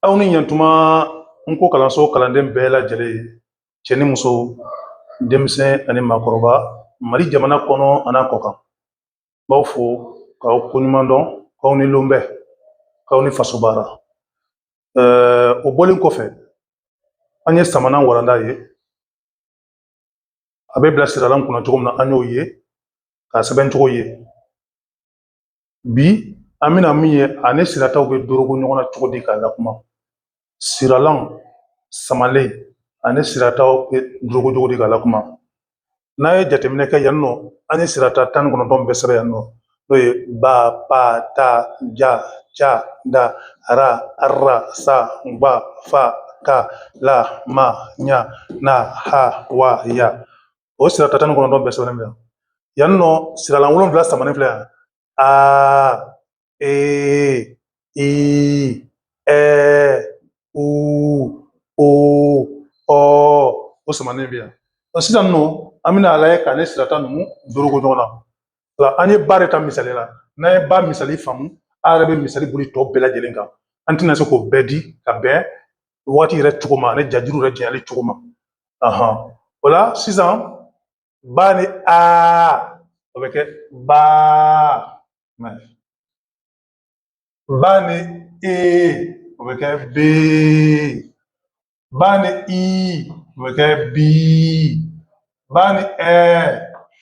Aw ni ɲɛtuma nko kalanso kalanden bɛɛ lajɛlen cɛ ni muso denmisɛn ani maakɔrɔba mali jamana kɔnɔ an'a kɔkan n b'aw fo k'aw koɲuman dɔn k'aw ni lonbɛ k'aw ni faso baara o bɔlen kɔfɛ an ye samana walanda ye a bɛ bila siralan kunna cogo min na an y'o ye k'a sɛbɛn cogo ye bi an bɛna min ye a ni sirataw bɛ dorogo ɲɔgɔn na cogo di k'a lakuma siralan samalen ani sirataw bɛ dorogo cogo di k'a lakuma n'a ye jateminɛ kɛ yan nɔ an ye sirata tan ni kɔnɔntɔn bɛɛ sɛbɛn yan nɔ n'o ye ba pa ta ja ca da ra arra sa gba fa ka la ma ɲa na ha wa ya o sirata tan ni kɔnɔntɔn bɛɛ sɛbɛnnen bɛ yan nɔ siralan wolonwula samanen filɛ yan aa ee i ɛ u o ɔ o samanen bɛ yan sisan nɔ an bɛna a lajɛ k'a ni sirata ninnu dorogo ɲɔgɔn na o la an ye ba de ta misali la n'an ye ba misali faamu an yɛrɛ bɛ misali boli tɔ bɛɛ lajɛlen kan an tɛna se k'o bɛɛ di ka bɛn waati yɛrɛ cogo ma ani jajuru yɛrɛ janyali cogo ma o la sisan ba ni a o bɛ kɛ ba ba ni e o bɛ kɛ be ba ni i o bɛ kɛ bi ba ni ɛ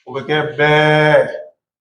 o bɛ kɛ bɛɛ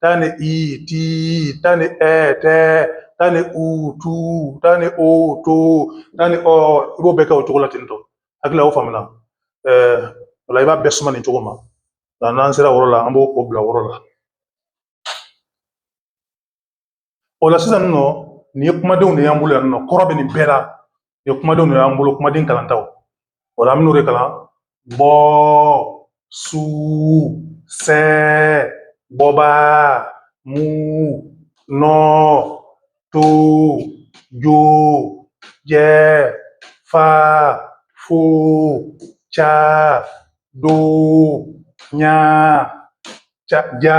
ta ni i ti ta ni ɛ tɛ ta ni u tu ta ni o to ta ni ɔ i b'o bɛɛ kɛ o cogo la ten tɔ hakili la o faamuna ɛɛ o la i b'a bɛɛ suma nin cogo ma n'an sera o yɔrɔ la an b'o bila o yɔrɔ la o la sisan nɔ nin ye kumadenw de y'an bolo yan nɔ kɔrɔ bɛ nin bɛɛ la nin ye kumadenw de y'an bolo kumaden kalantaw o la an bɛn'o de kalan bɔ su sɛ bɔba mu nɔ to jo jɛ fa fo ca do ɲa ca ja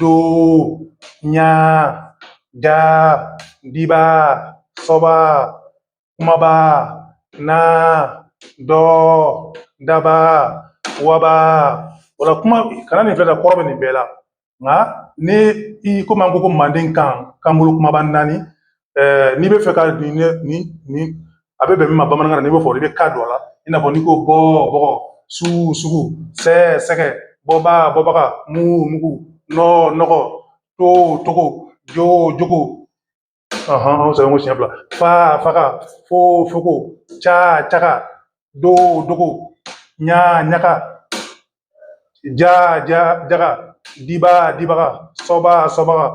do ɲa ja diba sɔba kumaba na dɔ daba waba o la kuma kana nin filɛ ka kɔrɔ bɛ nin bɛɛ la nka ni i komi an ko ko mandenkan kanbolo kunbaba naani ɛɛ n'i b'a fɛ k'a dɔn nin nin a bɛ bɛn min ma bamanankan na n'i b'o fɔ i bɛ ga don a la i n'a fɔ n'i ko bɔ bɔgɔ su sugu sɛ sɛgɛ bɔba bɔbaga mu mugu nɔ nɔgɔ to togo jo jogo ɔhɔn an sɛbɛn ko siɲɛ fila fa faga fo fogo ca caga do dogo ɲa ɲaga ja jaga diba dibaga soba sobaga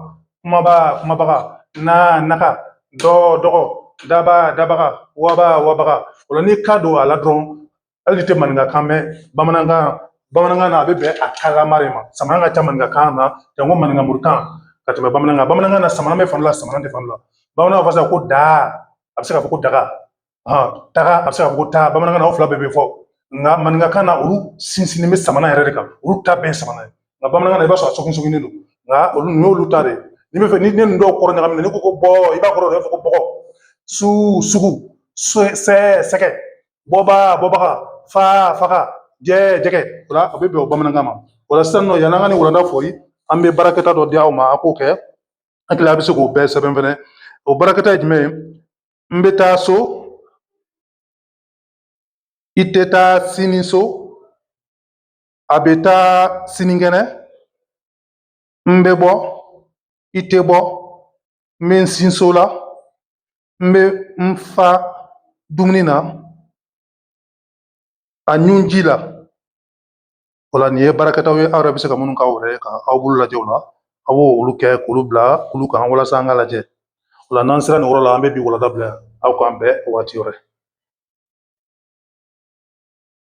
kumaba kumabaga na naga dɔ dɔgɔ daba dabaga waba wabaga o la n'i k'a don a la dɔrɔn hali n'i tɛ maninkakan mɛn bamanankan bamanankan na a bɛ bɛn a kalama de ma samanen ka ca maninkakan na janko maninkamorikan ka tɛmɛ bamanankan bamanankan na samanen bɛ fan la samanen tɛ fan la bamanankan fasa ko daa a bɛ se ka fɔ ko daga taga a bɛ se ka fɔ ko taa bamanankan na o fila bɛɛ bɛ fɔ nka maninkakan na olu sinsinnen bɛ samanen yɛrɛ de kan olu ta bɛɛ ye samanen ye nka bamanankan na i b'a sɔrɔ a sɔgɔsɔgɔlen sɔgilen don nka olu nin y'olu ta de ye n'i b'a fɛ nin nin dɔw kɔrɔ ɲagamina n'i ko ko bɔ i b'a kɔrɔ i b'a fɔ ko bɔgɔ su sugu sɛ sɛgɛ bɔba bɔbaga fa faga jɛ jɛgɛ o la a bɛ bɛn o bamanankan ma o la sisan nɔ yan'an ka nin walanda foori an bɛ baarakɛta dɔ di aw ma a k'o kɛ n hakili a bɛ se k'o bɛɛ sɛbɛn fɛnɛ o baarakɛta ye jumɛn ye N bɛ taa so, i tɛ taa sini so, a bɛ taa sinikɛnɛ, n bɛ bɔ, i tɛ bɔ, n bɛ n sin so la, n bɛ n fa dumuni na, a ɲun ji la. O la nin ye baarakɛtaw ye aw yɛrɛ bɛ se ka minnu kɛ aw yɛrɛ ye ka aw bolo lajɛ o la a b'o olu kɛ k'olu bila kulu kan walasa an k'a lajɛ o la n'an sera nin yɔrɔ la an bɛ bi walanda bila yan aw k'an bɛn waati wɛrɛ